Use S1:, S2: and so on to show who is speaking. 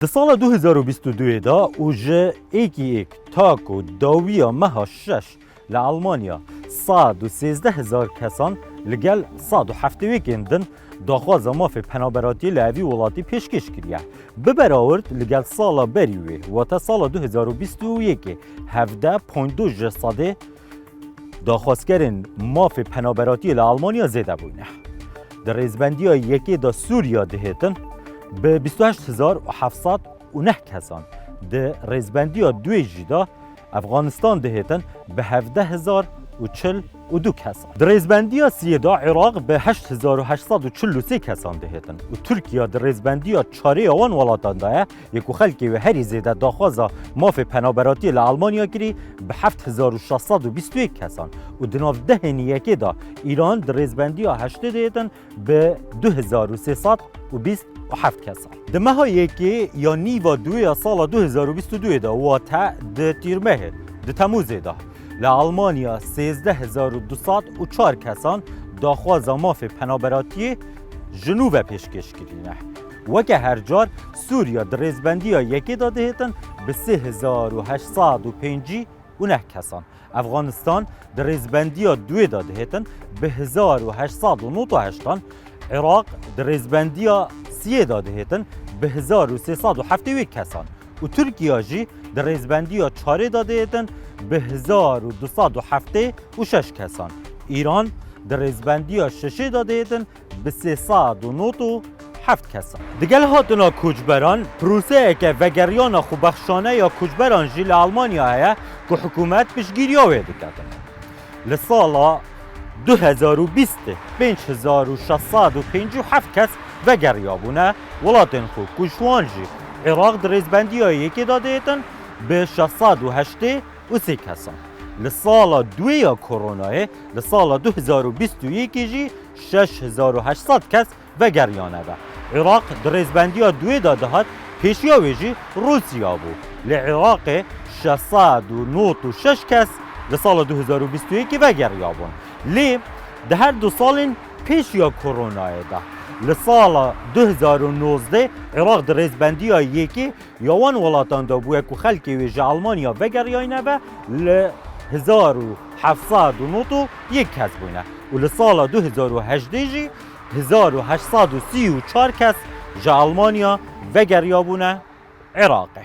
S1: Di sala du hezar û bîst û du yê de û ji êkîêk ta ku dawiya meha şeş li Elmanya sed û sêzdeh hezar kesan li gel sed û heftêêkên din daxwaza mafê penaberatiyê li evî welatî pêşkêş kiriye. Bi berawird li gel sala berî wê wate sala du hezar û bîst û yekê hevdeh ponît du ji sedê Daxwazkerên mafê penaberatiyê li Almanya zêde bûne. Di rêzbendiya yekê de Sûriya dihêtin bi bîst û heşt hezar û heft sed û neh kesan, di rêzbendiya duê jî de Efganistan dihêtin bi hevdeh hezar û çil û du kesan. Di rêzbendiya siyê de Iraq bi heşt hezar û heşt sed û çil û sê kesan dihêtin û Tirkiya di rêzbendiya çarê ya wan welatan de ye yê ku xelkê wê herî zêde daxwaza mafê penaberatiyê li Almanya kirî bi heft hezar û şeş sed û bîst û yek kesan û di nav dehên yekê de Îran di rêzbendiya heştê de yetin bi du hezar û sê sed û bîst û heft kesan. Di meha yekê ya nîva duê ya sala du hezar û bîst û duê de wate di Tîrmehê di Temûzê de li Almanya sêzdeh hezar û du sed û çar kesan daxwaza mafê penaberatiyê ji nû ve pêşkêş kirîne. Weke her car Sûriya di rêzbendiya yekê de dihêtin bi sê hezar û heşt sed û pêncî û neh kesan. Efganistan di rêzbendiya duê de dihêtin bi hezar û heşt sed û nod û heştan. Iraq di rêzbendiya siyê de dihêtin bi hezar û sê sed û heftê û yek kesan û Tirkiya jî di rêzbendiya çarê de dihêtin bi hezar û du sed û heftê û şeş kesan. Îran di rêzbendiya şeşê de dihêtin bi sê sed û nod û heft kesan. Digel hatina koçberan, proseyeke vegeriyana xwebexşane ya koçberan jî li Elmanya heye ku hikûmet piştgiriya wê dike. Li sala du hezar û bîstê pênc hezar û şeş sed û pêncî û heft kes vegeriyabûne welatên xwe ku ji wan jî Iraq di rêzbendiya yekê de diyetin bi şeş sed û heştê û sê kesan. Li sala duê ya koronayê, li sala du hezar û bîst û yekê jî Şeş hezar û heşt sed kes vegeriyane ve. Iraq di rêzbendiya duê de dihat, pêşiya wê jî Rûsya bû. Lê Iraqê şeş sed û nod û şeş kes li sala du hezar û bîst û yekê vegeriyabûn. Lê di her du salên pêşiya koronayê de. Li sala du hezar û nozdeh Iraq di rêzbendiya yekê Ya wan welatan de bûye ku xelkê wê ji Almanya vegeriyayne ve li hezar û heft sed û nod û yek kes bûne û li sala du hezar û hejdeh jî hezar û heşt sed û sî û çar kes ji Almanya vegeriyabûne Iraqê.